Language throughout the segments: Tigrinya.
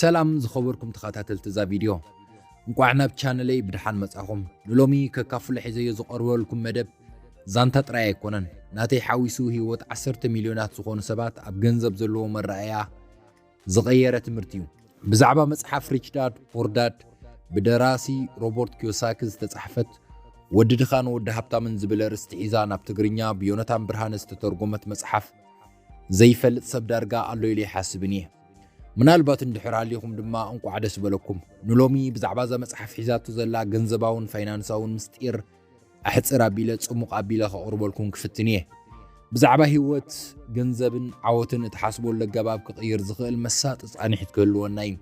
ሰላም ዝኸበርኩም ተኸታተልቲ እዛ ቪድዮ እንቋዕ ናብ ቻነለይ ብድሓን መጻኹም ንሎሚ ከካፍሎ ሒዘዮ ዝቐርበልኩም መደብ ዛንታ ጥራይ ኣይኮነን ናተይ ሓዊሱ ህይወት ዓሰርተ ሚልዮናት ዝኾኑ ሰባት ኣብ ገንዘብ ዘለዎ መረኣያ ዝቐየረ ትምህርቲ እዩ። ብዛዕባ መጽሓፍ ሪች ዳድ ፖር ዳድ ብደራሲ ሮቦርት ኪዮሳኪ ዝተጻሕፈት ወዲ ድኻን ወዲ ሃብታምን ዝብል ኣርእስቲ ሒዛ ናብ ትግርኛ ብዮነታን ብርሃነ ዝተተርጎመት መጽሓፍ ዘይፈልጥ ሰብ ዳርጋ ኣሎ ኢለ ይሓስብን እየ። ምናልባት እንድሕር ሃሊኹም ድማ እንቋዕ ደስ በለኩም። ንሎሚ ብዛዕባ እዛ መጽሓፍ ሒዛቶ ዘላ ገንዘባውን ፋይናንሳውን ምስጢር ኣሕጽር ኣቢለ ጽሙቕ ኣቢለ ከቕርበልኩም ክፍትን እየ። ብዛዕባ ህይወት፣ ገንዘብን ዓወትን እትሓስበሉ ኣገባብ ክቕይር ዝኽእል መሳጢ ጻኒሒት ክህልወና እዩ።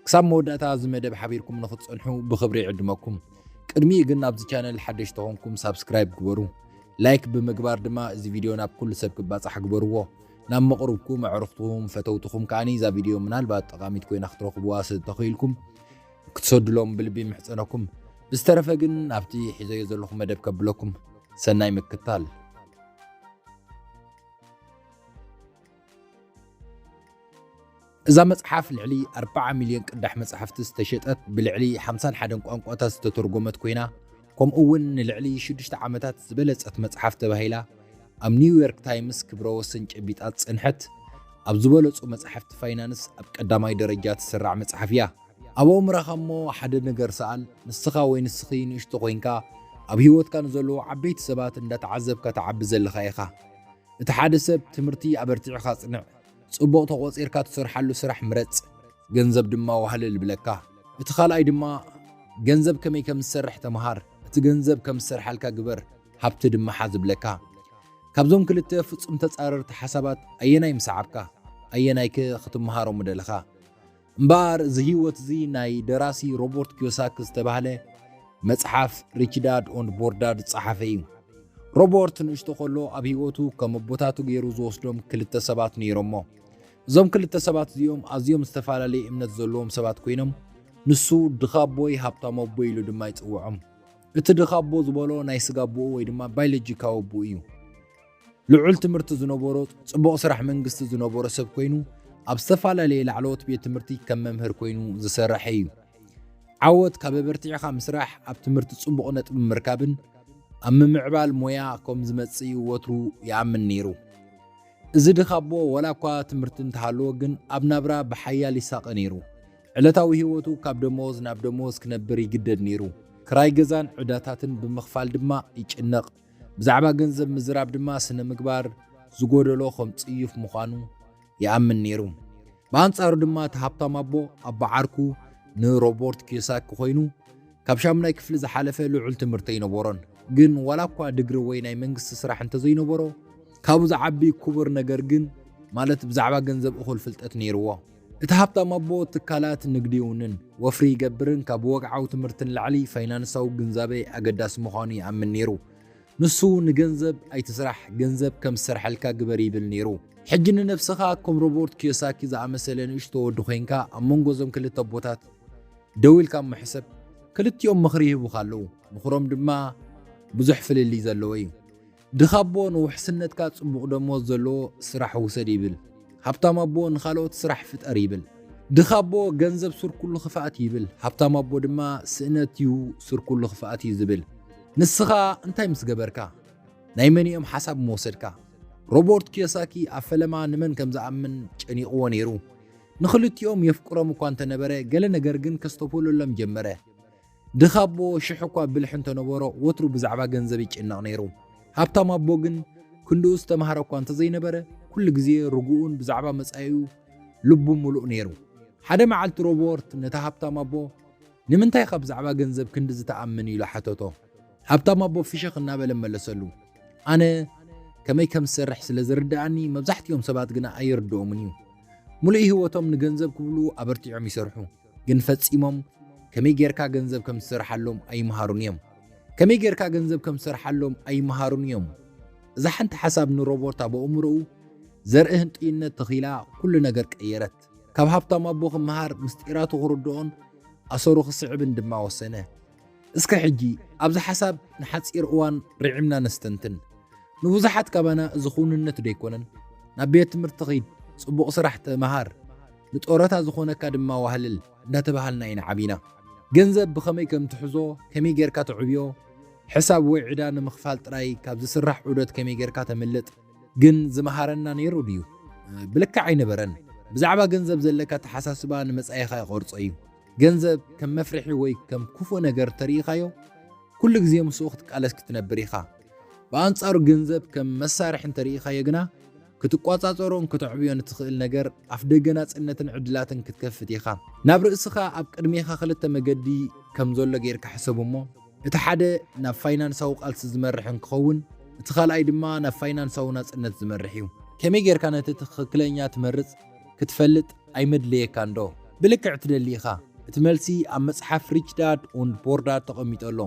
ክሳብ መወዳእታ እዚ መደብ ሓቢርኩም ንኽትጸንሑ ብኽብሪ ይዕድመኩም። ቅድሚኡ ግን ኣብዚ ቻነል ሓደሽቲ ኾንኩም ሳብስክራይብ ግበሩ። ላይክ ብምግባር ድማ እዚ ቪድዮ ናብ ኩሉ ሰብ ክባጻሕ ግበርዎ። ናብ መቕርብኩም፣ ኣዕሩኽትኹም፣ ፈተውትኹም ከኣ እዛ ቪድዮ ምናልባት ጠቓሚት ኮይና ክትረኽቡዋ ስለ እተኽኢልኩም ክትሰዱሎም ብልቢ ምሕጸነኩም ብዝተረፈ ግን ኣብቲ ሒዘዮ ዘለኹ መደብ ከብለኩም ሰናይ ምክታል እዛ መጽሓፍ ልዕሊ 40 ሚልዮን ቅዳሕ መጽሓፍቲ ዝተሸጠት ብልዕሊ 51 ቋንቋታት ዝተተርጎመት ኮይና ከምኡ እውን ንልዕሊ 6 ዓመታት ዝበለጸት መጽሓፍ ተባሂላ ኣብ ኒውዮርክ ታይምስ ክብረ ወሰን ጨቢጣ ዝጸንሐት ኣብ ዝበለጹ መጽሓፍቲ ፋይናንስ ኣብ ቀዳማይ ደረጃ ትስራዕ መጽሓፍ እያ ኣብ ኣእምራኻ እሞ ሓደ ነገር ሰኣል፣ ንስኻ ወይ ንስኺ ንእሽቶ ኮይንካ ኣብ ህይወትካ ንዘለዉ ዓበይቲ ሰባት እንዳተዓዘብካ ትዓቢ ዘለኻ ኢኻ። እቲ ሓደ ሰብ ትምህርቲ ኣበርቲዕኻ ኣጽንዕ፣ ጽቡቕ ተቖጺርካ ትሰርሓሉ ስራሕ ምረጽ፣ ገንዘብ ድማ ዋህለል ብለካ። እቲ ካልኣይ ድማ ገንዘብ ከመይ ከም ዝሰርሕ ተመሃር፣ እቲ ገንዘብ ከም ዝሰርሓልካ ግበር፣ ሃብቲ ድማ ሓዝ ብለካ። ካብዞም ክልተ ፍጹም ተጻረርቲ ሓሳባት ኣየናይ ምሰዓብካ? ኣየናይከ ክትመሃሮ ምደለኻ? እምበኣር እዚ ህይወት እዚ ናይ ደራሲ ሮቦርት ኪዮሳክ ዝተባህለ መጽሓፍ ሪች ዳድ ኦንድ ፖር ዳድ ዝጸሓፈ እዩ። ሮቦርት ንእሽቶ ከሎ ኣብ ህይወቱ ከም ኣቦታቱ ገይሩ ዝወስዶም ክልተ ሰባት ነይሮሞ። እዞም ክልተ ሰባት እዚኦም ኣዝዮም ዝተፈላለየ እምነት ዘለዎም ሰባት ኮይኖም ንሱ ድኻ ኣቦይ ሃብታም ኣቦይ ኢሉ ድማ ይጽውዖም። እቲ ድኻ ኣቦ ዝበሎ ናይ ስጋ ኣቦኡ ወይ ድማ ባዮሎጂካዊ ኣቦኡ እዩ። ልዑል ትምህርቲ ዝነበሮ ጽቡቕ ስራሕ መንግስቲ ዝነበሮ ሰብ ኮይኑ ኣብ ዝተፈላለየ ላዕለዎት ቤት ትምህርቲ ከም መምህር ኮይኑ ዝሰርሐ እዩ። ዓወት ካብ ኣበርቲዕኻ ምስራሕ፣ ኣብ ትምህርቲ ጽቡቕ ነጥቢ ምርካብን ኣብ ምምዕባል ሞያ ከም ዝመጽእ እዩ ወትሩ ይኣምን ነይሩ። እዚ ድኻ ኣቦ ወላ እኳ ትምህርቲ እንተሃለዎ ግን ኣብ ናብራ ብሓያል ይሳቐ ነይሩ። ዕለታዊ ህይወቱ ካብ ደመወዝ ናብ ደመወዝ ክነብር ይግደድ ነይሩ። ክራይ ገዛን ዕዳታትን ብምኽፋል ድማ ይጭነቕ። ብዛዕባ ገንዘብ ምዝራብ ድማ ስነ ምግባር ዝጎደሎ ከም ጽዩፍ ምዃኑ ይኣምን ነይሩ። ብኣንጻሩ ድማ እቲ ሃብታም ኣቦ ኣቦ ዓርኩ ንሮቦርት ኪዮሳኪ ኮይኑ ካብ ሻሙናይ ክፍሊ ዝሓለፈ ልዑል ትምህርቲ ኣይነበሮን። ግን ዋላ እኳ ድግሪ ወይ ናይ መንግስቲ ስራሕ እንተዘይነበሮ ካብኡ ዝዓቢ ክቡር ነገር ግን ማለት ብዛዕባ ገንዘብ እኹል ፍልጠት ነይርዎ። እቲ ሃብታም ኣቦ ትካላት ንግዲ ይውንን፣ ወፍሪ ይገብርን ካብ ወግዓዊ ትምህርቲ ንላዕሊ ፋይናንሳዊ ግንዛበ ኣገዳሲ ምዃኑ ይኣምን ነይሩ። ንሱ ንገንዘብ ኣይትስራሕ፣ ገንዘብ ከም ዝሰርሐልካ ግበር ይብል ነይሩ። ሕጂ ንነብስኻ ከም ሮቦርት ኪዮሳኪ ዝኣመሰለ ንእሽቶ ወዲ ኮይንካ ኣብ መንጎ እዞም ክልተ ኣቦታት ደው ኢልካ እሞ ሕሰብ። ክልቲኦም ምኽሪ ይህቡኻ ኣለዉ፣ ምኽሮም ድማ ብዙሕ ፍልልይ ዘለዎ እዩ። ድኻ ኣቦ ንውሕስነትካ ጽቡቕ ደሞዝ ዘለዎ ስራሕ ውሰድ ይብል። ሃብታም ኣቦ ንኻልኦት ስራሕ ፍጠር ይብል። ድኻ ኣቦ ገንዘብ ሱር ኩሉ ክፍኣት እዩ ይብል። ሃብታም ኣቦ ድማ ስእነት እዩ ሱር ኩሉ ክፍኣት እዩ ዝብል። ንስኻ እንታይ ምስ ገበርካ? ናይ መንኦም ሓሳብ ምወሰድካ? ሮቦርት ኪዮሳኪ ኣብ ፈለማ ንመን ከም ዝኣምን ጨኒቕዎ ነይሩ። ንኽልቲኦም የፍቅሮም እኳ እንተነበረ ገለ ነገር ግን ከስተብህለሎም ጀመረ። ድኻ ኣቦ ሽሕ እኳ ብልሒ እንተነበሮ ወትሩ ብዛዕባ ገንዘብ ይጭነቕ ነይሩ። ሃብታም ኣቦ ግን ክንድኡ ዝተምሃረ እኳ እንተዘይነበረ ኩሉ ግዜ ርጉኡን ብዛዕባ መጻኢኡ ልቡ ምሉእ ነይሩ። ሓደ መዓልቲ ሮቦርት ነቲ ሃብታም ኣቦ ንምንታይ ኢኻ ብዛዕባ ገንዘብ ክንዲ ዝተኣምን ኢሉ ሓተቶ። ሃብታም ኣቦ ፍሽኽ እናበለ መለሰሉ፣ ኣነ ከመይ ከም ዝሰርሕ ስለ ዝርድኣኒ መብዛሕትኦም ሰባት ግና ኣይርድኦምን እዩ። ምሉእ ህይወቶም ንገንዘብ ክብሉ ኣበርቲዖም ይሰርሑ። ግን ፈጺሞም ከመይ ጌርካ ገንዘብ ከም ትሰርሓሎም ኣይምሃሩን እዮም። ከመይ ጌርካ ገንዘብ ከም ትሰርሓሎም ኣይምሃሩን እዮም። እዛ ሓንቲ ሓሳብ ንሮቦርት ኣብ ኣእምሮኡ ዘርኢ ህንጥዩነት ተኺላ ኩሉ ነገር ቀየረት። ካብ ሃብታም ኣቦ ክመሃር፣ ምስጢራቱ ክርድኦን ኣሰሩ ክስዕብን ድማ ወሰነ። እስከ ሕጂ ኣብዚ ሓሳብ ንሓጺር እዋን ርዒምና ነስተንትን። ንብዙሓት ካባና እዚ ክውንነት ዶ ኣይኮነን? ናብ ቤት ትምህርቲ ኺድ፣ ጽቡቕ ስራሕ ተመሃር፣ ንጦረታ ዝኾነካ ድማ ዋህልል እንዳተባሃልና ኢና ዓቢና። ገንዘብ ብኸመይ ከም ትሕዞ፣ ከመይ ጌርካ ተዕብዮ፣ ሕሳብ ወይ ዕዳ ንምኽፋል ጥራይ ካብ ዝስራሕ ዑደት ከመይ ጌርካ ተምልጥ ግን ዝመሃረና ነይሩ ድዩ? ብልክዕ ኣይነበረን። ብዛዕባ ገንዘብ ዘለካ ኣተሓሳስባ ንመጻኢኻ ይቐርጾ እዩ። ገንዘብ ከም መፍርሒ ወይ ከም ክፉእ ነገር እንተርኢኻዮ፣ ኩሉ ግዜ ምስኡ ክትቃለስ ክትነብር ኢኻ። ብኣንጻሩ ገንዘብ ከም መሳርሒ እንተርኢኻዮ ግና፣ ክትቆጻጸሮን ከተዕብዮን እትኽእል ነገር፣ ኣፍደገ ናጽነትን ዕድላትን ክትከፍት ኢኻ። ናብ ርእስኻ ኣብ ቅድሜኻ ክልተ መገዲ ከም ዘሎ ጌርካ ሕሰብ እሞ፣ እቲ ሓደ ናብ ፋይናንሳዊ ቃልሲ ዝመርሕ እንክኸውን፣ እቲ ካልኣይ ድማ ናብ ፋይናንሳዊ ናጽነት ዝመርሕ እዩ። ከመይ ጌርካ ነቲ ትኽክለኛ ትመርጽ? ክትፈልጥ ኣይመድለየካንዶ? ብልክዕ ትደሊ ኢኻ? እቲ መልሲ ኣብ መጽሓፍ ሪች ዳድ ኡንድ ፖር ዳድ ተቐሚጡ ኣሎ።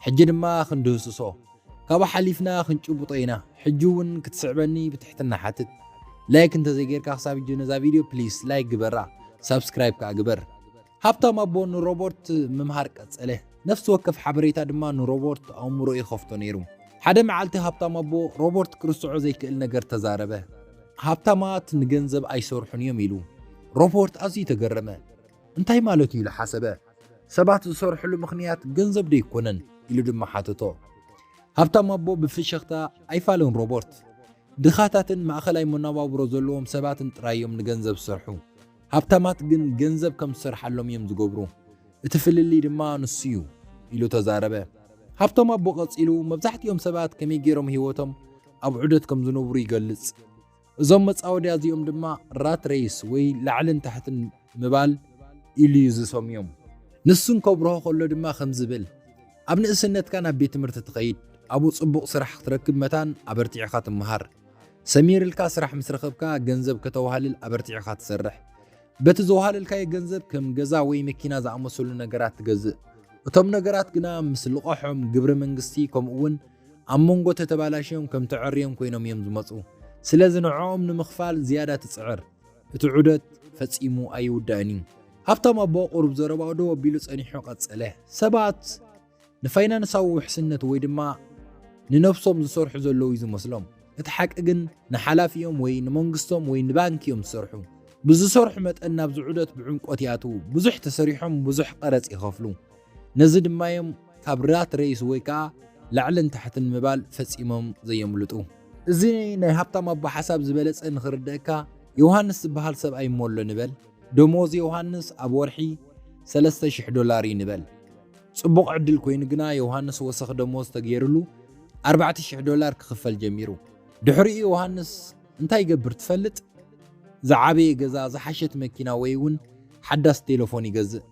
ሕጂ ድማ ክንድህስሶ፣ ካብኡ ሓሊፍና ክንጭብጦ ኢና። ሕጂ እውን ክትስዕበኒ ብትሕትና ሓትት። ላይክ እንተዘይጌርካ ክሳብ ሕጂ ነዛ ቪድዮ ፕሊስ ላይክ ግበራ፣ ሳብስክራይብ ከኣ ግበር። ሃብታም ኣቦ ንሮበርት ምምሃር ቀጸለ፣ ነፍሲ ወከፍ ሓበሬታ ድማ ንሮበርት ኣእምሮ ይኸፍቶ ነይሩ። ሓደ መዓልቲ ሃብታም ኣቦ ሮበርት ክርስዖ ዘይክእል ነገር ተዛረበ። ሃብታማት ንገንዘብ ኣይሰርሑን እዮም ኢሉ። ሮበርት ኣዝዩ ተገረመ። እንታይ ማለት እዩ ኢሉ ሓሰበ። ሰባት ዝሰርሕሉ ምኽንያት ገንዘብ ዶ ኣይኮነን ኢሉ ድማ ሓተቶ። ሃብታም ኣቦ ብፍሽኽታ ኣይፋልን ሮበርት፣ ድኻታትን ማእኸላይ መነባብሮ ዘለዎም ሰባትን ጥራይ እዮም ንገንዘብ ዝሰርሑ። ሃብታማት ግን ገንዘብ ከም ዝሰርሓሎም እዮም ዝገብሩ፣ እቲ ፍልልይ ድማ ንሱ እዩ ኢሉ ተዛረበ። ሃብቶም ኣቦ ቀጺሉ፣ መብዛሕትኦም ሰባት ከመይ ገይሮም ህይወቶም ኣብ ዑደት ከም ዝነብሩ ይገልጽ። እዞም መጻወድያ እዚኦም ድማ ራት ሬይስ ወይ ላዕልን ታሕትን ምባል ኢሉ እዩ ዝሰምዮም። ንሱ ከብርሆ ከሎ ድማ ከምዚ ይብል፣ ኣብ ንእስነትካ ናብ ቤት ትምህርቲ ትኸይድ፣ ኣብኡ ጽቡቕ ስራሕ ክትረክብ መታን ኣበርቲዕካ ትመሃር። ሰሚርልካ ስራሕ ምስ ረኸብካ ገንዘብ ከተዋህልል ኣበርቲዕኻ ትሰርሕ። በቲ ዘዋህለልካዮ ገንዘብ ከም ገዛ ወይ መኪና ዝኣመሰሉ ነገራት ትገዝእ። እቶም ነገራት ግና ምስ ልቓሖም ግብሪ መንግስቲ ከምኡ'ውን ኣብ መንጎ ተተባላሽዮም ከም ተዐርዮም ኮይኖም እዮም ዝመጹ። ስለዚ ንዕኦም ንምኽፋል ዝያዳ ትጽዕር። እቲ ዑደት ፈጺሙ ኣይውዳእን እዩ። ሃብታም ኣቦ ቁሩብ ዘረባኡ ደው ኣቢሉ ጸኒሑ ቀጸለ፣ ሰባት። ንፋይናንሳዊ ውሕስነት ወይ ድማ ንነብሶም ዝሰርሑ ዘለዉ እዩ ዝመስሎም። እቲ ሓቂ ግን ንሓላፊኦም ወይ ንመንግስቶም ወይ ንባንኪ እዮም ዝሰርሑ። ብዝሰርሑ መጠን ናብዚ ዑደት ብዕምቆት ይኣትዉ፣ ብዙሕ ተሰሪሖም ብዙሕ ቀረጽ ይኸፍሉ። ነዚ ድማ እዮም ካብ ራት ሬይስ ወይ ከኣ ላዕልን ታሕትን ምባል ፈጺሞም ዘየምልጡ። እዚ ናይ ሃብታም ኣቦ ሓሳብ ዝበለጸ ንኽርደኣካ ዮውሃንስ ዝበሃል ሰብኣይ እሞ ኣሎ ንበል። ደሞዝ ዮውሃንስ ኣብ ወርሒ ሰለስተ ሽሕ ዶላር እዩ ንበል። ጽቡቕ ዕድል ኰይኑ ግና፣ ዮሃንስ ወሰኽ ደሞዝ ተገይሩሉ ኣርባዕተ ሽሕ ዶላር ክኽፈል ጀሚሩ። ድሕሪኡ ዮሃንስ እንታይ ይገብር ትፈልጥ? ዝዓበየ ገዛ፣ ዝሓሸት መኪና ወይ እውን ሓዳስ ቴለፎን ይገዝእ።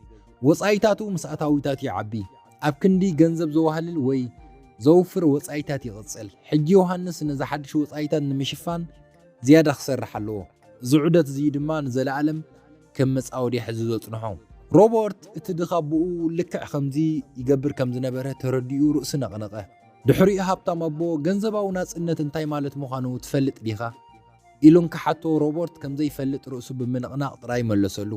ወጻኢታቱ ምስ ኣታዊታቱ ይዓቢ። ኣብ ክንዲ ገንዘብ ዘዋህልል ወይ ዘውፍር ወጻኢታት ይቕጽል። ሕጂ ዮሃንስ ነዚ ሓድሽ ወጻኢታት ንምሽፋን ዝያዳ ክሰርሕ ኣለዎ፣ እዚ ዑደት እዚ ድማ ንዘለኣለም ከም መጻወድያ ሕዙ ዘጽንሖ። ሮበርት እቲ ድኻ ኣቦኡ ልክዕ ከምዚ ይገብር ከም ዝነበረ ተረዲኡ ርእሱ ነቕነቐ። ድሕሪኡ ሃብታም ኣቦ ገንዘባዊ ናጽነት እንታይ ማለት ምዃኑ ትፈልጥ ዲኻ? ኢሉ እንክሓቶ ሮበርት ከም ዘይፈልጥ ርእሱ ብምንቕናቕ ጥራይ መለሰሉ።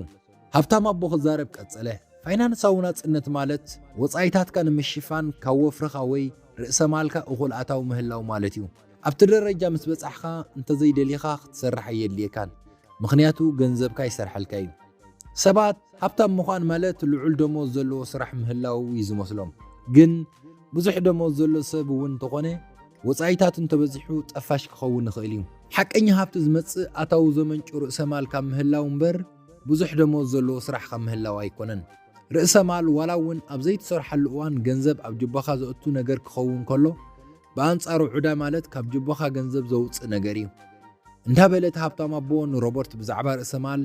ሃብታም ኣቦ ክዛረብ ቀጸለ፣ ፋይናንሳዊ ናጽነት ማለት ወጻኢታትካ ንምሽፋን ካብ ወፍርኻ ወይ ርእሰ-ማልካ እኹል ኣታዊ ምህላው ማለት እዩ። ኣብቲ ደረጃ ምስ በጻሕካ እንተዘይደሊኻ ክትሰርሕ ኣየድልየካን ምኽንያቱ ገንዘብካ ይሰርሐልካ እዩ። ሰባት ሃብታም ምዃን ማለት ልዑል ደሞዝ ዘለዎ ስራሕ ምህላው እዩ ዝመስሎም ግን ብዙሕ ደሞዝ ዘሎ ሰብ እውን እንተኾነ ወጻኢታቱ እንተበዚሑ ጠፋሽ ክኸውን ይኽእል እዩ። ሓቀኛ ሃብቲ ዝመጽእ ኣታዊ ዘመንጩ ርእሰ ማል ካብ ምህላው እምበር ብዙሕ ደሞዝ ዘለዎ ስራሕ ካብ ምህላው ኣይኮነን። ርእሰ ማል ዋላ እውን ኣብ ዘይትሰርሓሉ እዋን ገንዘብ ኣብ ጁባኻ ዘእቱ ነገር ክኸውን ከሎ ብኣንጻሩ ዑዳ ማለት ካብ ጅቦኻ ገንዘብ ዘውጽእ ነገር እዩ እንዳ በለ እቲ ሃብታም ኣቦ ንሮበርት ብዛዕባ ርእሰ ማል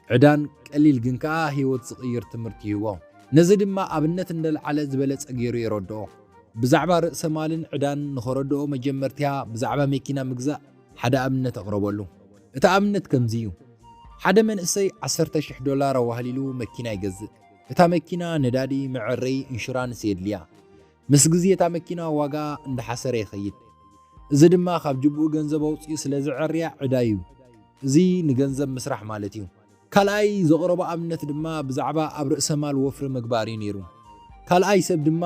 ዕዳን ቀሊል ግን ከኣ ህይወት ዝቕይር ትምህርቲ ይህቦ። ነዚ ድማ ኣብነት እንደልዓለ ዝበለጸ ገይሩ የረድኦ። ብዛዕባ ርእሰ ማልን ዕዳን ንኸረድኦ መጀመርትያ ብዛዕባ መኪና ምግዛእ ሓደ ኣብነት ኣቕረበሉ። እቲ ኣብነት ከምዚ እዩ። ሓደ መንእሰይ ዓሰርተ ሽሕ ዶላር ኣዋህሊሉ መኪና ይገዝእ። እታ መኪና ነዳዲ፣ መዐረዪ፣ ኢንሹራንስ የድልያ። ምስ ግዜ እታ መኪና ዋጋኣ እንዳሓሰረ ይኸይድ። እዚ ድማ ካብ ጅብኡ ገንዘብ ኣውጺኡ ስለ ዘዐርያ ዕዳ'ዩ። እዚ ንገንዘብ ምስራሕ ማለት'ዩ። ካልኣይ ዘቕረቦ ኣብነት ድማ ብዛዕባ ኣብ ርእሰማል ወፍሪ ምግባር'ዩ ነይሩ። ካልኣይ ሰብ ድማ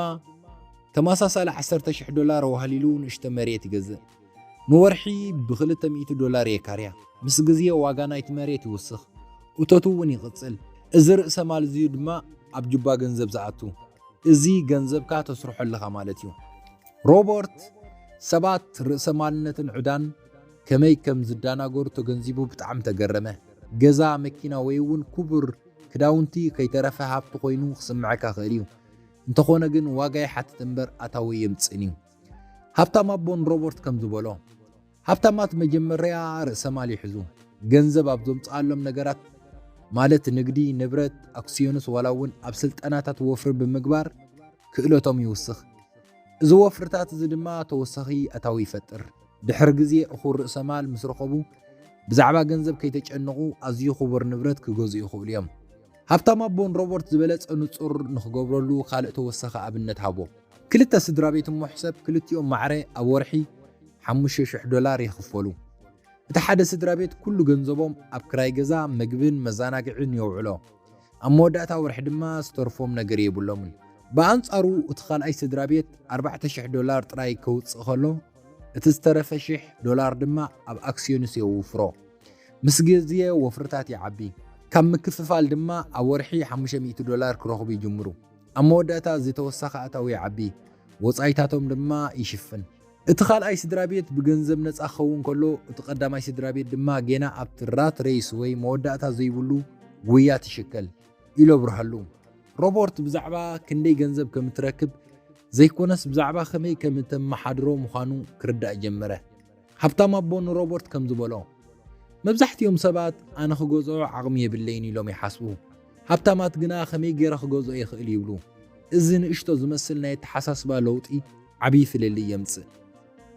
ተመሳሳሊ ዓሰርተ ሽሕ ዶላር ኣዋህሊሉ ንእሽቶ መሬት ይገዝእ። ንወርሒ ብክልተ ሚእቲ ዶላር የካርያ። ምስ ግዜ ዋጋ ናይቲ መሬት ይውስኽ፣ እቶቱ እውን ይቕጽል። እዚ ርእሰ ማል እዚዩ ድማ ኣብ ጁባ ገንዘብ ዝኣቱ፣ እዚ ገንዘብካ ተስርሖ ኣለኻ ማለት እዩ። ሮበርት ሰባት ርእሰ ማልነትን ዕዳን ከመይ ከም ዝዳናገሩ ተገንዚቡ ብጣዕሚ ተገረመ። ገዛ፣ መኪና ወይ እውን ኩቡር ክዳውንቲ ከይተረፈ ሃብቲ ኮይኑ ክስምዐካ ይኽእል እዩ። እንተኾነ ግን ዋጋ ይሓትት እምበር ኣታዊ ኣየምጽእን እዩ። ሃብታም ኣቦ ንሮበርት ከም ዝበሎ፣ ሃብታማት መጀመርያ ርእሰማል ይሕዙ። ገንዘብ ኣብ ዘምጽኣሎም ነገራት ማለት ንግዲ፣ ንብረት፣ ኣክስዮንስ ዋላ እውን ኣብ ስልጠናታት ወፍሪ ብምግባር ክእለቶም ይውስኽ። እዚ ወፍርታት እዚ ድማ ተወሳኺ ኣታዊ ይፈጥር። ድሕሪ ግዜ እኹል ርእሰማል ምስ ረኸቡ ብዛዕባ ገንዘብ ከይተጨነቑ ኣዝዩ ክቡር ንብረት ክገዝኡ ይኽእሉ እዮም። ሃብታም ኣቦ ንሮበርት ዝበለጸ ንጹር ንኽገብረሉ ካልእ ተወሳኺ ኣብነት ሃቦ። ክልተ ስድራቤት እሞሕ ሰብ ክልቲኦም ማዕረ ኣብ ወርሒ ሓሙሽተ ሽሕ ዶላር ይኽፈሉ። እቲ ሓደ ስድራቤት ኩሉ ገንዘቦም ኣብ ክራይ ገዛ፣ መግብን መዛናግዒን የውዕሎ። ኣብ መወዳእታ ወርሒ ድማ ዝተርፎም ነገር የብሎምን። ብኣንጻሩ እቲ ካልኣይ ስድራቤት ኣርባዕተ ሽሕ ዶላር ጥራይ ከውጽእ ከሎ፣ እቲ ዝተረፈ ሽሕ ዶላር ድማ ኣብ ኣክስዮንስ የውፍሮ። ምስ ግዜ ወፍርታት ይዓቢ። ካብ ምክፍፋል ድማ ኣብ ወርሒ ሓሙሽተ ሚእቲ ዶላር ክረኽቡ ይጅምሩ። ኣብ መወዳእታ እዚ ተወሳኺ ኣታዊ ይዓቢ፣ ወጻኢታቶም ድማ ይሽፍን። እቲ ካልኣይ ስድራቤት ብገንዘብ ነጻ ክኸውን ከሎ፣ እቲ ቀዳማይ ስድራቤት ድማ ጌና ኣብቲ ራት ሬይስ ወይ መወዳእታ ዘይብሉ ጉያት ይሽከል፣ ኢሉ ኣብርሀሉ። ሮበርት ብዛዕባ ክንደይ ገንዘብ ከም እትረክብ ዘይኰነስ ብዛዕባ ከመይ ከም እተመሓድሮ ምዃኑ ክርዳእ ጀመረ። ሃብታም ኣቦ ንሮበርት ከም ዝበሎ፣ መብዛሕትኦም ሰባት ኣነ ክገዝኦ ዓቕሚ የብለይን ኢሎም ይሓስቡ፣ ሃብታማት ግና ከመይ ገይረ ክገዝኦ ይኽእል ይብሉ። እዚ ንእሽቶ ዝመስል ናይ ኣተሓሳስባ ለውጢ ዓብዪ ፍልልይ የምጽእ።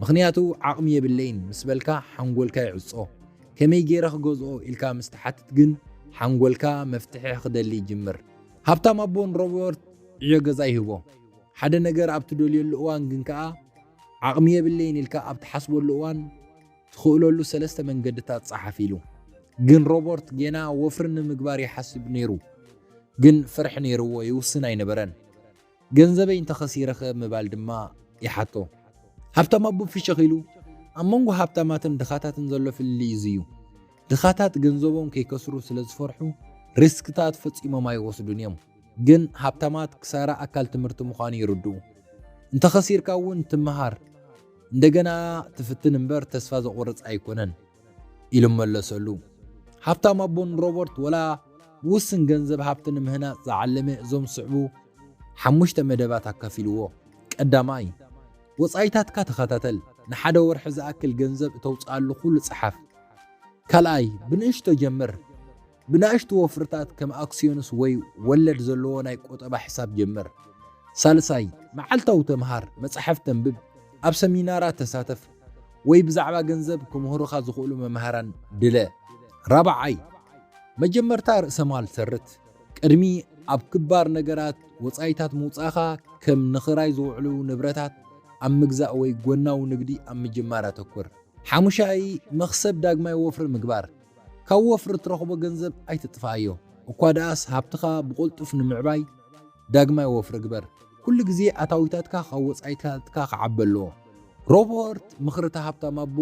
ምኽንያቱ ዓቕሚ የብለይን ምስ በልካ ሓንጎልካ ይዕጾ፣ ከመይ ገይረ ክገዝኦ ኢልካ ምስ ትሓትት ግን ሓንጎልካ መፍትሒ ክደሊ ይጅምር። ሃብታም ኣቦ ንሮበርት ዕዮ ገዛ ይህቦ፣ ሓደ ነገር ኣብ ትደልየሉ እዋን ግን ከኣ ዓቕሚ የብለይን ኢልካ ኣብ ትሓስበሉ እዋን ትኽእለሉ ሰለስተ መንገድታት ጸሓፍ ኢሉ። ግን ሮበርት ጌና ወፍሪ ንምግባር ይሓስብ ነይሩ። ግን ፍርሒ ነይርዎ ይውስን ኣይነበረን። ገንዘበይ እንተ ኸሲረኸ ምባል ድማ ይሓቶ። ሃብታም ኣቦ ፍሽኽ ኢሉ፣ ኣብ መንጎ ሃብታማትን ድኻታትን ዘሎ ፍልልይ እዚ እዩ። ድኻታት ገንዘቦም ከይከስሩ ስለ ዝፈርሑ ሪስክታት ፈጺሞም ኣይወስዱን እዮም። ግን ሃብታማት ክሳራ ኣካል ትምህርቲ ምዃኑ ይርድኡ። እንተኸሲርካ እውን ትመሃር፣ እንደገና ትፍትን እምበር ተስፋ ዘቑርጽ ኣይኮነን ኢሉ መለሰሉ። ሃብታም ኣቦ ንሮበርት ወላ ብውስን ገንዘብ ሃብቲ ንምህናጽ ዝዓለመ እዞም ዝስዕቡ ሓሙሽተ መደባት ኣካፊልዎ። ቀዳማይ፣ ወጻኢታትካ ተኸታተል፣ ንሓደ ወርሒ ዝኣክል ገንዘብ እተውጽኣሉ ኩሉ ጽሓፍ። ካልኣይ፣ ብንእሽቶ ጀምር፣ ብናእሽቱ ወፍርታት ከም ኣክስዮንስ ወይ ወለድ ዘለዎ ናይ ቁጠባ ሕሳብ ጀምር። ሳልሳይ፣ መዓልታዊ ተምሃር፣ መጻሕፍቲ ኣንብብ፣ ኣብ ሰሚናራት ተሳተፍ፣ ወይ ብዛዕባ ገንዘብ ክምህሩኻ ዝኽእሉ መማህራን ድለ። ራብዓይ፣ መጀመርታ ርእሰማል ሰርት። ቅድሚ ኣብ ክባር ነገራት ወጻኢታት ምውጻእካ ከም ንኽራይ ዝውዕሉ ንብረታት ኣብ ምግዛእ ወይ ጎናዊ ንግዲ ኣብ ምጅማር ኣተኩር። ሓሙሻይ፣ መኽሰብ ዳግማይ ወፍሪ ምግባር። ካብ ወፍሪ እትረኽቦ ገንዘብ ኣይትጥፍኣዮ፣ እኳ ደኣስ ሃብትኻ ብቕልጡፍ ንምዕባይ ዳግማይ ወፍሪ ግበር። ኩሉ ግዜ ኣታዊታትካ ካብ ወጻኢታትካ ክዓቢ ኣለዎ። ሮበርት ምኽሪ እቲ ሃብታም ኣቦ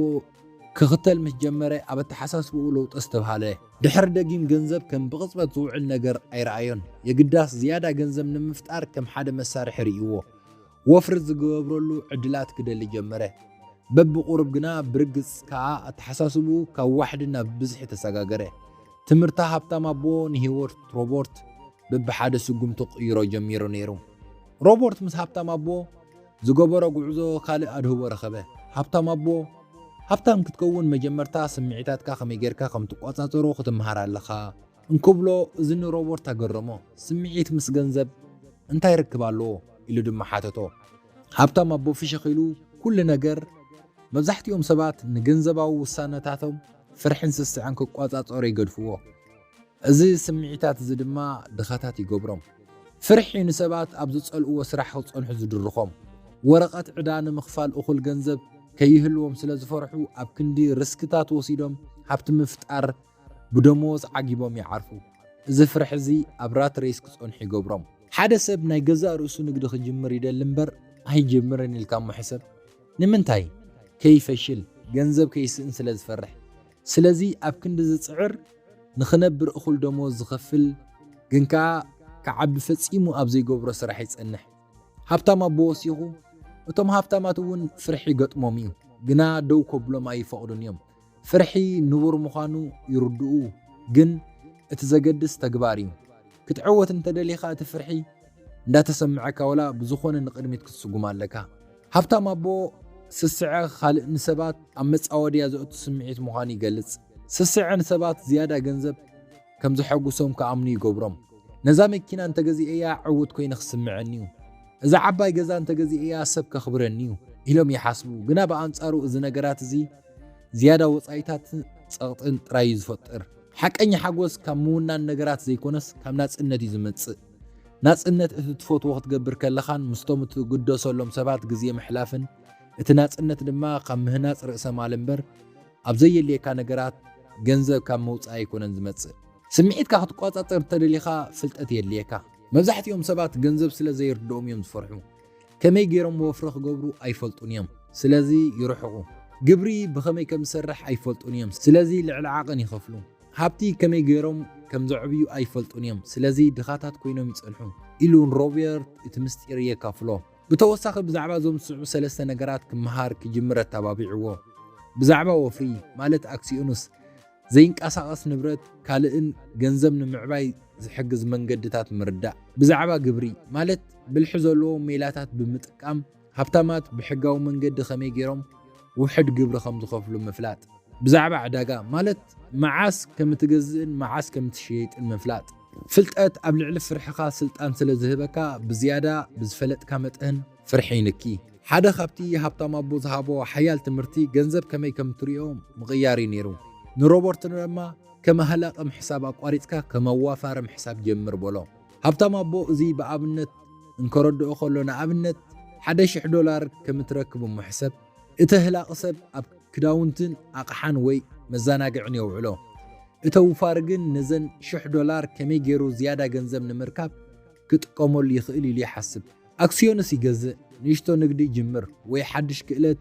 ክኽተል ምስ ጀመረ፣ ኣብ ኣተሓሳስባኡ ለውጢ ኣስተብሃለ። ድሕሪ ደጊም ገንዘብ ከም ብቕጽበት ዝውዕል ነገር ኣይረኣዮን፣ የግዳስ ዝያዳ ገንዘብ ንምፍጣር ከም ሓደ መሳርሒ ርእይዎ። ወፍሪ ዝገብረሉ ዕድላት ክደሊ ጀመረ። በብቑሩብ ግና ብርግጽ ከኣ ኣተሓሳስብኡ ካብ ዋሕዲ ናብ ብዝሒ ተሰጋገረ። ትምህርታ ሃብታም ኣቦ ንህይወት ሮቦርት ብብሓደ ስጉምቲ ክቕይሮ ጀሚሩ ነይሩ። ሮቦርት ምስ ሃብታም ኣቦ ዝገበሮ ጉዕዞ ካልእ ኣድህቦ ረኸበ። ሃብታም ኣቦ ሃብታም ክትከውን መጀመርታ ስምዒታትካ ከመይ ጌርካ ከም ትቆጻጸሮ ክትምሃር ኣለኻ። እንክብሎ እዚ ንሮበርት ኣገረሞ። ስምዒት ምስ ገንዘብ እንታይ ርክብ ኣለዎ? ኢሉ ድማ ሓተቶ። ሃብታም ኣቦ ፍሽኽ ኢሉ፣ ኵሉ ነገር! መብዛሕትኦም ሰባት ንገንዘባዊ ውሳነታቶም ፍርሕን ስስዐን ክቈጻጸሩ ይገድፍዎ። እዚ ስምዒታት እዚ ድማ ድኻታት ይገብሮም። ፍርሒ እዩ ንሰባት ኣብ ዝጸልእዎ ስራሕ ክጸንሑ ዝድርኾም። ወረቐት ዕዳ ንምኽፋል እኹል ገንዘብ ከይህልዎም ስለ ዝፈርሑ ኣብ ክንዲ ርስክታት ወሲዶም ሃብቲ ምፍጣር ብደመወዝ ዓጊቦም ይዓርፉ። እዚ ፍርሒ እዚ ኣብ ራት ሬስ ክጸንሑ ይገብሮም። ሓደ ሰብ ናይ ገዛእ ርእሱ ንግዲ ክጅምር ይደሊ እምበር ኣይጅምርን ኢልካ እሞ ሕሰብ። ንምንታይ? ከይፈሽል፣ ገንዘብ ከይስእን ስለ ዝፈርሕ። ስለዚ ኣብ ክንዲ ዝጽዕር፣ ንኽነብር እኹል ደመወዝ ዝኸፍል ግን ከኣ ክዓቢ ፈጺሙ ኣብ ዘይገብሮ ስራሕ ይጸንሕ። ሃብታም ኣቦ ወሲኹ፣ እቶም ሃብታማት እውን ፍርሒ ይገጥሞም እዩ፣ ግና ደው ከብሎም ኣይፈቕዱን እዮም። ፍርሒ ንቡር ምዃኑ ይርድኡ ግን እቲ ዘገድስ ተግባር እዩ። ክትዕወት እንተደሊኻ እቲ ፍርሒ እንዳተሰመዐካ ወላ ብዝኾነ ንቕድሚት ክትስጉም ኣለካ። ሃብታም ኣቦ ስስዐ ኻልእ ንሰባት ኣብ መጻወድያ ዘእቱ ስምዒት ምዃኑ ይገልጽ። ስስዐ ንሰባት ዝያዳ ገንዘብ፣ ከም ዘሐጕሶም ክኣምኑ ይገብሮም። ነዛ መኪና እንተ ገዚኤያ ዕዉት ኰይነ ክስምዐኒ'ዩ፣ እዛ ዓባይ ገዛ እንተ ገዚኤያ ሰብ ከኽብረኒ'ዩ ኢሎም ይሓስቡ። ግና ብኣንጻሩ እዚ ነገራት እዚ ዝያዳ ወጻኢታትን ጸቕጥን ጥራይ እዩ ዝፈጥር። ሓቀኛ ሓጐስ ካብ ምውናን ነገራት ዘይኰነስ ካብ ናጽነት እዩ ዝመጽእ። ናጽነት እቲ ትፈትዎ ክትገብር ከለኻን ምስቶም እትግደሰሎም ሰባት ግዜ ምሕላፍን፣ እቲ ናጽነት ድማ ካብ ምህናጽ ርእሰ-ማል እምበር፣ ኣብ ዘየድልየካ ነገራት ገንዘብ ካብ ምውጻእ ኣይኮነን ዝመጽእ። ስምዒትካ ክትቆጻጸር እንተደሊኻ ፍልጠት የድልየካ። መብዛሕትኦም ሰባት ገንዘብ ስለ ዘይርድኦም እዮም ዝፈርሑ። ከመይ ገይሮም ወፍሪ ክገብሩ ኣይፈልጡን እዮም። ስለዚ ይርሕቑ። ግብሪ ብኸመይ ከም ዝሰርሕ ኣይፈልጡን እዮም። ስለዚ ልዕሊ ዓቐን ይኸፍሉ። ሃብቲ ከመይ ገይሮም ከም ዘዕብዩ ኣይፈልጡን እዮም። ስለዚ ድኻታት ኮይኖም ይጸንሑ ኢሉ ንሮቤርት እቲ ምስጢር የካፍሎ። ብተወሳኺ ብዛዕባ እዞም ዝስዕቡ ሰለስተ ነገራት ክመሃር ክጅምር ኣተባቢዕዎ፣ ብዛዕባ ወፍሪ፣ ማለት ኣክሲዮንስ፣ ዘይንቀሳቐስ ንብረት፣ ካልእን ገንዘብ ንምዕባይ ዝሕግዝ መንገድታት ምርዳእ፣ ብዛዕባ ግብሪ፣ ማለት ብልሒ ዘለዎ ሜላታት ብምጥቃም ሃብታማት ብሕጋዊ መንገዲ ከመይ ገይሮም ውሕድ ግብሪ ከም ዝኸፍሉ ምፍላጥ፣ ብዛዕባ ዕዳጋ፣ ማለት መዓስ ከም እትገዝእን መዓስ ከም እትሸይጥን ምፍላጥ። ፍልጠት ኣብ ልዕሊ ፍርሕኻ ስልጣን ስለ ዝህበካ ብዝያዳ ብዝፈለጥካ መጠን ፍርሒ ይንኪ። ሓደ ካብቲ ሃብታም ኣቦ ዝሃቦ ሓያል ትምህርቲ ገንዘብ ከመይ ከም እትሪኦ ምቕያር እዩ ነይሩ። ንሮበርት ድማ ከም ሃላቂ ምሕሳብ ኣቋሪጽካ ከም ኣዋፋሪ ምሕሳብ ጀምር በሎ። ሃብታም ኣቦ እዚ ብኣብነት እንከረድኦ ከሎ ንኣብነት ሓደ ሽሕ ዶላር ከም እትረክብ እሞ ሕሰብ። እተ ህላቂ ሰብ ኣብ ክዳውንትን ኣቕሓን ወይ መዛናግዕን የውዕሎ። እተ ውፋሪ ግን ነዘን ሽሕ ዶላር ከመይ ገይሩ ዝያዳ ገንዘብ ንምርካብ ክጥቀመሉ ይኽእል ኢሉ ይሓስብ። ኣክስዮንስ ይገዝእ፣ ንእሽቶ ንግዲ ይጅምር፣ ወይ ሓድሽ ክእለት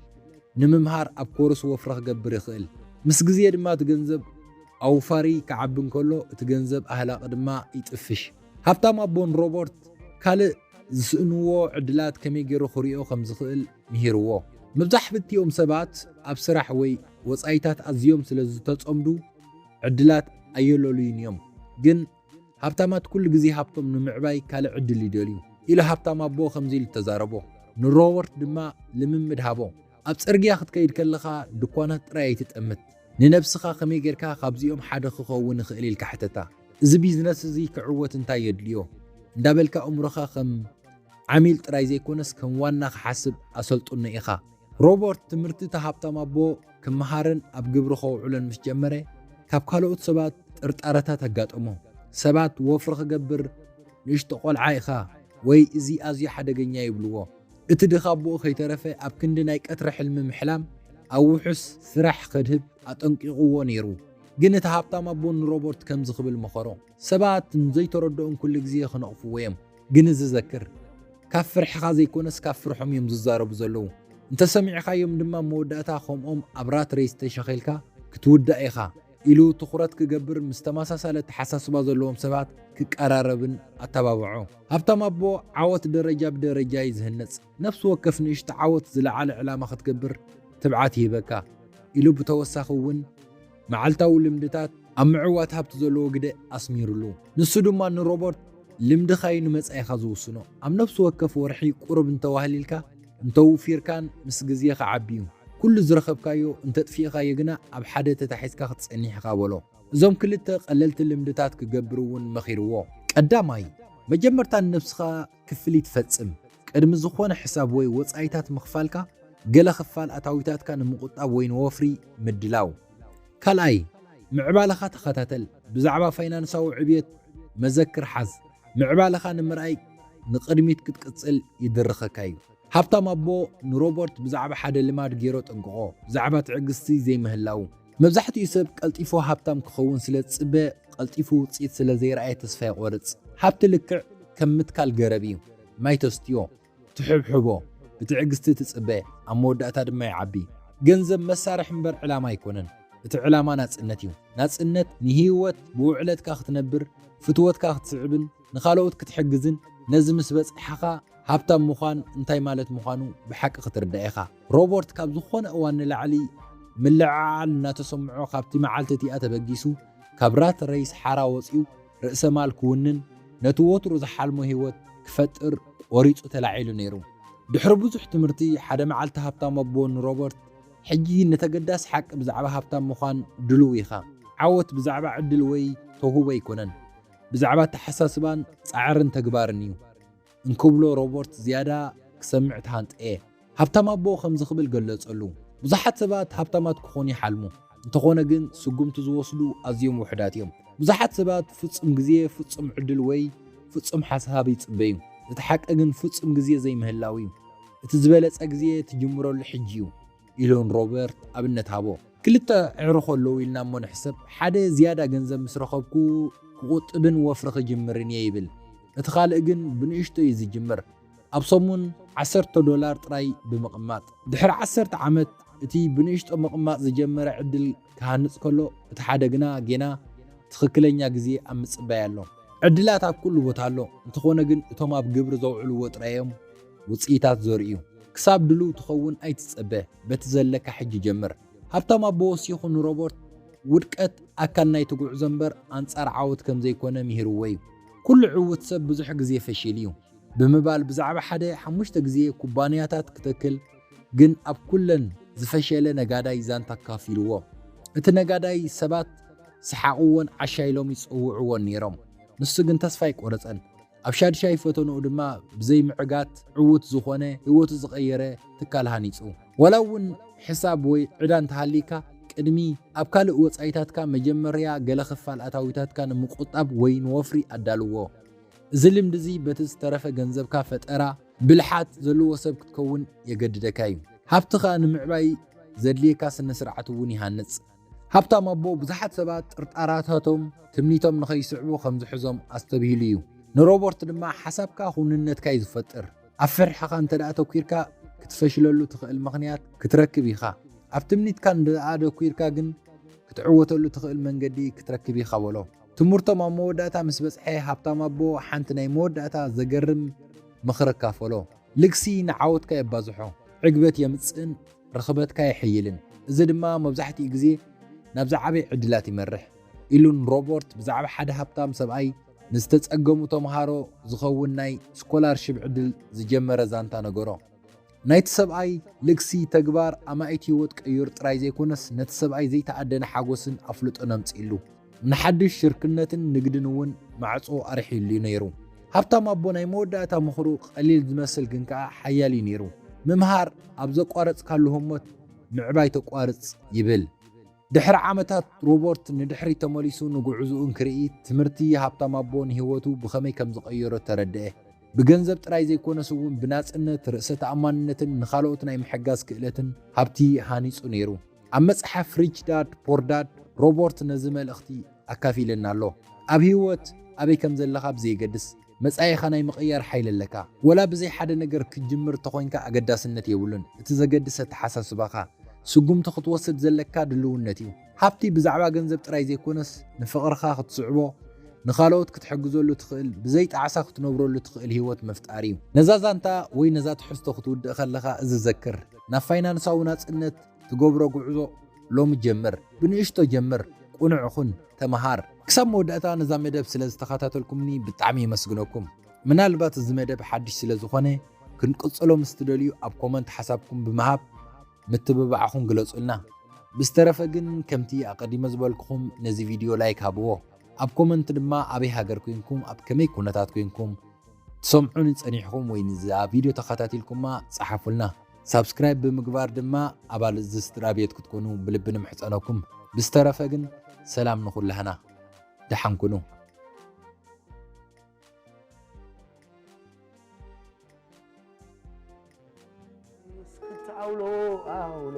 ንምምሃር ኣብ ኮርስ ወፍሪ ክገብር ይኽእል። ምስ ግዜ ድማ እቲ ገንዘብ ኣውፋሪ ክዓቢ እንከሎ እቲ ገንዘብ ኣህላቂ ድማ ይጥፍሽ። ሃብታም ኣቦን ሮበርት ካልእ ዝስእንዎ ዕድላት ከመይ ገይሩ ክሪኦ ከም ዝኽእል ምሂርዎ። መብዛሕብትኦም ሰባት ኣብ ስራሕ ወይ ወጻኢታት ኣዝዮም ስለ ዝተጸምዱ ዕድላት ኣየለልዩን እዮም። ግን ሃብታማት ኩሉ ግዜ ሃብቶም ንምዕባይ ካልእ ዕድል ይደልዩ ኢሉ ሃብታም ኣቦ ከምዚ ኢሉ ተዛረቦ። ንሮበርት ድማ ልምምድ ሃቦ። ኣብ ጽርግያ ክትከይድ ከለኻ ድኳናት ጥራይ ኣይትጠምት። ንነብስኻ ከመይ ጌርካ ካብዚኦም ሓደ ክኸውን እኽእል ኢልካ ሕተታ። እዚ ቢዝነስ እዚ ክዕወት እንታይ የድልዮ? እንዳበልካ ኣእምሮኻ ከም። ዓሚል ጥራይ ዘይኮነስ ከም ዋና ክሓስብ ኣሰልጡኖ ኢኻ። ሮበርት ትምህርቲ እቲ ሃብታም ኣቦ ክመሃርን ኣብ ግብሪ ከውዕሎን ምስ ጀመረ፣ ካብ ካልኦት ሰባት ጥርጣረታት ኣጋጠሞ። ሰባት ወፍሪ ክገብር ንእሽቶ ቆልዓ ኢኻ ወይ እዚ ኣዝዩ ሓደገኛ ይብልዎ። እቲ ድኻ ኣቦኡ ከይተረፈ ኣብ ክንዲ ናይ ቀትሪ ሕልሚ ምሕላም ኣብ ውሑስ ስራሕ ከድህብ ኣጠንቂቕዎ ነይሩ። ግን እቲ ሃብታም ኣቦ ንሮበርት ከምዚ ክብል መኸሮ። ሰባት ንዘይተረድኦም ኩሉ ግዜ ክነቕፍዎ እዮም። ግን እዚ ዘክር፣ ካብ ፍርሕኻ ዘይኮነስ ካብ ፍርሖም እዮም ዝዛረቡ ዘለዉ። እንተ ሰሚዕኻዮም ድማ መወዳእታ ከምኦም ኣብ ራት ሬስ ተሸኺልካ ክትውዳእ ኢኻ ኢሉ ትኹረት ክገብር ምስ ተመሳሳሊ ኣተሓሳስባ ዘለዎም ሰባት ክቀራረብን ኣተባብዖ። ሃብታም ኣቦ ዓወት ደረጃ ብደረጃ እዩ ዝህነጽ። ነፍሲ ወከፍ ንእሽቶ ዓወት ዝለዓለ ዕላማ ክትገብር ትብዓት ይህበካ ኢሉ ብተወሳኺ እውን፣ መዓልታዊ ልምድታት ኣብ ምዕዋት ሃብቲ ዘለዎ ግደ ኣስሚሩሉ። ንሱ ድማ ንሮበርት፣ ልምድኻ'ዩ ንመጻኢኻ ዝውስኖ። ኣብ ነፍሲ ወከፍ ወርሒ ቁሩብ እንተ ዋህሊልካ፣ እንተ ውፊርካን ምስ ግዜ ክዓቢ'ዩ። ኩሉ ዝረኸብካዮ እንተ ኣጥፊእኻዮ ግና ኣብ ሓደ ተታሒዝካ ክትጸኒሕ ኢኻ በሎ። እዞም ክልተ ቀለልቲ ልምድታት ክገብር'ውን መኺርዎ። ቀዳማይ፣ መጀመርታ ንነብስኻ ክፍሊት ፈጽም። ቅድሚ ዝኾነ ሕሳብ ወይ ወጻኢታት ምኽፋልካ፣ ገለ ክፋል ኣታዊታትካ ንምቑጣብ ወይ ንወፍሪ ምድላው። ካልኣይ፣ ምዕባለኻ ተኸታተል። ብዛዕባ ፋይናንሳዊ ዕብየት መዘክር ሓዝ። ምዕባለኻ ንምርኣይ ንቕድሚት ክትቅጽል ይድርኸካ እዩ። ሃብታም ኣቦ ንሮበርት ብዛዕባ ሓደ ልማድ ገይሮ ኣጠንቅቖ፣ ብዛዕባ ትዕግስቲ ዘይምህላዉ። መብዛሕትኡ ሰብ ቀልጢፉ ሃብታም ክኸውን ስለ ዝጽበ፣ ቀልጢፉ ውጽኢት ስለ ዘይረኣየ ተስፋ ይቖርጽ። ሃብቲ ልክዕ ከም ምትካል ገረብ እዩ፣ ማይ ተስትዮ፣ ትሕብሕቦ፣ ብትዕግስቲ ትጽበ፣ ኣብ መወዳእታ ድማ ይዓቢ። ገንዘብ መሳርሒ እምበር ዕላማ ኣይኮነን፣ እቲ ዕላማ ናጽነት እዩ። ናጽነት ንህይወት ብውዕለትካ ክትነብር፣ ፍትወትካ ክትስዕብን፣ ንኻልኦት ክትሕግዝን ነዚ ምስ በጻሕኻ ሃብታም ምዃን እንታይ ማለት ምዃኑ ብሓቂ ክትርዳእ ኢኻ። ሮበርት ካብ ዝኾነ እዋን ንላዕሊ ምልዕዓል እናተሰምዖ ካብቲ መዓልቲ እቲኣ ተበጊሱ ካብ ራት ሬይስ ሓራ ወጺኡ ርእሰ ማል ክውንን ነቲ ወትሩ ዝሓልሞ ህይወት ክፈጥር ቆሪጹ ተላዒሉ ነይሩ። ድሕሪ ብዙሕ ትምህርቲ ሓደ መዓልቲ ሃብታም ኣቦ ንሮበርት ሕጂ ንተገዳሲ ሓቂ ብዛዕባ ሃብታም ምዃን ድሉው ኢኻ። ዓወት ብዛዕባ ዕድል ወይ ተውህቦ ኣይኮነን። ብዛዕባ ኣተሓሳስባን ጻዕርን ተግባርን እዩ እንክብሎ ሮበርት ዝያዳ ክሰምዕ ተሃንጠየ። ሃብታም ኣቦ ከምዚ ክብል ገለጸሉ፣ ብዙሓት ሰባት ሃብታማት ክኾኑ ይሓልሙ፣ እንተኾነ ግን ስጉምቲ ዝወስዱ ኣዝዮም ውሑዳት እዮም። ብዙሓት ሰባት ፍጹም ግዜ፣ ፍጹም ዕድል ወይ ፍጹም ሓሳብ ይጽበዩ፣ እቲ ሓቂ ግን ፍጹም ግዜ ዘይምህላው እዩ። እቲ ዝበለጸ ግዜ ትጅምረሉ ሕጂ እዩ። ኢሉ ንሮበርት ኣብነት ሃቦ። ክልተ ኣዕሩኽ ኣለዉ ኢልና እሞ ንሕሰብ። ሓደ ዝያዳ ገንዘብ ምስ ረኸብኩ ክቝጥብን ወፍሪ ክጅምርን እየ ይብል። እቲ ካልእ ግን ብንእሽቶ እዩ ዝጅምር፣ ኣብ ሰሙን ዓሰርተ ዶላር ጥራይ ብምቕማጥ። ድሕሪ ዓሰርተ ዓመት፣ እቲ ብንእሽቶ ምቕማጥ ዝጀመረ ዕድል ክሃንጽ ከሎ፣ እቲ ሓደ ግና ጌና ትኽክለኛ ግዜ ኣብ ምጽባይ ኣሎ። ዕድላት ኣብ ኩሉ ቦታ ኣሎ፣ እንተኾነ ግን እቶም ኣብ ግብሪ ዘውዕልዎ ጥራይ'ዮም ውጽኢታት ዘርእዩ። ክሳብ ድሉው ትኸውን ኣይትጸበ፣ በቲ ዘለካ ሕጂ ጀምር። ሃብታም ኣቦዎስ ይኹን ንሮበርት፣ ውድቀት ኣካል ናይቲ ጉዕዞ እምበር ኣንጻር ዓወት ከም ዘይኮነ ምሂርዎ'ዩ። ኩሉ ዕዉት ሰብ ብዙሕ ግዜ ፈሺሉ'ዩ። ብምባል ብዛዕባ ሓደ ሓሙሽተ ግዜ ኩባንያታት ክተክል፣ ግን ኣብ ኩለን ዝፈሸለ ነጋዳይ ዛንታ ኣካፊልዎ። እቲ ነጋዳይ ሰባት ይስሓቕዎን ዓሻ ኢሎም ይጽውዕዎን ነይሮም። ንሱ ግን ተስፋ ኣይቆረጸን። ኣብ ሻድሻይ ፈተንኡ ድማ ብዘይ ምዕጋት ዕዉት ዝኾነ ህይወቱ ዝቐየረ ትካል ሃኒጹ። ዋላ እውን ሕሳብ ወይ ዕዳ እንተሃልይካ ቅድሚ ኣብ ካልእ ወጻኢታትካ መጀመርያ ገለ ክፋል ኣታዊታትካ ንምቁጣብ ወይ ንወፍሪ ኣዳልዎ። እዚ ልምዲ እዚ በቲ ዝተረፈ ገንዘብካ ፈጠራ፣ ብልሓት ዘለዎ ሰብ ክትከውን የገድደካ እዩ። ሃብትኻ ንምዕባይ ዘድልየካ ስነ-ስርዓት እውን ይሃንጽ። ሃብታም ኣቦ ብዙሓት ሰባት ጥርጣረታቶም ትምኒቶም ንኸይስዕቡ ከም ዝሕዞም ኣስተብሂሉ እዩ። ንሮበርት ድማ ሓሳብካ ክውንነትካ እዩ ዝፈጥር። ኣብ ፍርሕኻ እንተ ኣተኲርካ ክትፈሽለሉ ትኽእል ምኽንያት ክትረክብ ኢኻ። ኣብ ትምኒትካ እንተ ኣተኲርካ ግን ክትዕወተሉ ትኽእል መንገዲ ክትረክብ ኢኻ በሎ። ትምህርቶም ኣብ መወዳእታ ምስ በጽሐ፣ ሃብታም ኣቦ ሓንቲ ናይ መወዳእታ ዘገርም ምኽሪ ኣካፈሎ፣ ልግሲ ንዓወትካ የባዝሖ፣ ዕግበት የምጽእን ርኽበትካ የሐይልን፣ እዚ ድማ መብዛሕትኡ ግዜ ናብ ዝዓበየ ዕድላት ይመርሕ። ኢሉ ንሮበርት ብዛዕባ ሓደ ሃብታም ሰብኣይ ንዝተጸገሙ ተምሃሮ ዝኸውን ናይ ስኮላርሺፕ ዕድል ዝጀመረ ዛንታ ነገሮ። ናይቲ ሰብኣይ ልግሲ ተግባር ኣማኢት ህይወት ቀይሩ ጥራይ ዘይኮነስ ነቲ ሰብኣይ ዘይተኣደነ ሓጎስን ኣፍልጦን ኣምጺእሉ። ንሓድሽ ሽርክነትን ንግድን እውን ማዕጾ ኣርሒሉ እዩ ነይሩ። ሃብታም ኣቦ ናይ መወዳእታ ምኽሩ ቐሊል ዝመስል ግን ከኣ ሓያል እዩ ነይሩ፣ ምምሃር ኣብ ዘቋረጽካሉ ህሞት ምዕባይ ተቋርጽ ይብል። ድሕሪ ዓመታት፣ ሮበርት ንድሕሪት ተመሊሱ ንጕዕዞኡ እንክርኢ፣ ትምህርቲ ሃብታም ኣቦ ንህይወቱ ብኸመይ ከም ዝቐየሮ ተረድኤ። ብገንዘብ ጥራይ ዘይኰነስ እውን ብናጽነት፣ ርእሰ ተኣማንነትን ንኻልኦት ናይ ምሕጋዝ ክእለትን ሃብቲ ሃኒጹ ነይሩ። ኣብ መጽሓፍ ሪች ዳድ፣ ፖር ዳድ፣ ሮበርት ነዚ መልእኽቲ ኣካፊሉና ኣሎ፣ ኣብ ህይወት ኣበይ ከም ዘለኻ ብዘየገድስ፣ መጻኢኻ ናይ ምቕያር ሓይሊ ኣለካ። ወላ ብዘይ ሓደ ነገር ክትጅምር እንተኾይንካ ኣገዳስነት የብሉን፣ እቲ ዘገድስ ኣተሓሳስባኻ፣ ስጉምቲ ክትወስድ ዘለካ ድልውነት እዩ። ሃብቲ ብዛዕባ ገንዘብ ጥራይ ዘይኮነስ፣ ንፍቕርኻ ክትስዕቦ፣ ንኻልኦት ክትሕግዘሉ እትኽእል፣ ብዘይ ጣዕሳ ክትነብረሉ እትኽእል ህይወት ምፍጣር እዩ። ነዛ ዛንታ ወይ ነዛ ትሕዝቶ ክትውድእ ከለኻ እዚ ዘክር፣ ናብ ፋይናንሳዊ ናጽነት፣ ትገብሮ ጉዕዞ ሎሚ ጀምር ብንእሽቶ ጀምር ቁኑዕ ኹን ተምሃር። ክሳብ መወዳእታ ነዛ መደብ ስለ ዝተኸታተልኩምኒ ብጣዕሚ የመስግነኩም። ምናልባት እዚ መደብ ሓድሽ ስለ ዝኾነ ክንቅጽሎ ምስ ትደልዩ ኣብ ኮመንት ሓሳብኩም ብምሃብ ምትብባዕኹም ግለጹልና። ብዝተረፈ ግን ከምቲ ኣቐዲመ ዝበልኩኹም ነዚ ቪድዮ ላይክ ሃብዎ። ኣብ ኮመንት ድማ ኣበይ ሃገር ኮይንኩም ኣብ ከመይ ኩነታት ኮይንኩም ትሰምዑኒ ጸኒሕኹም ወይ ንዛ ቪድዮ ተኸታቲልኩማ ጸሓፉልና። ሳብስክራይብ ብምግባር ድማ ኣባል እዚ ስድራ ቤት ክትኮኑ ብልቢ ንምሕፀነኩም ብዝተረፈ ግን ሰላም ንኹላህና ደሓን ኩኑ አውሎ አውሎ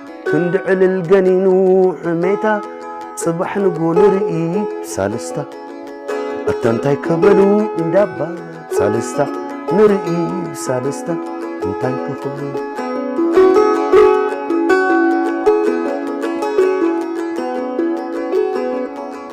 ክንዲ ዕልል ገኒኑ ሕሜታ ጽባሕ ንግሆ ንርኢ ሳልስታ ኣታ እንታይ ከበሉ እንዳባ ሳልስታ ንርኢ ሳልስታ እንታይ ክኽብሉ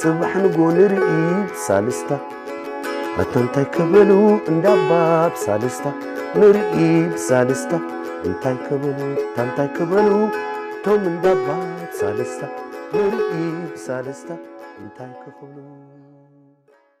ጽባሕ ንጎ ንርኢ ብሳልስታ ኣታ እንታይ ከበሉ እንዳባ ብሳልስታ ንርኢ ብሳልስታ እንታይ ከበሉ ኣታ እንታይ ከበሉ ቶም እንዳባ ብሳልስታ ንርኢ ብሳልስታ እንታይ ክኽብሉ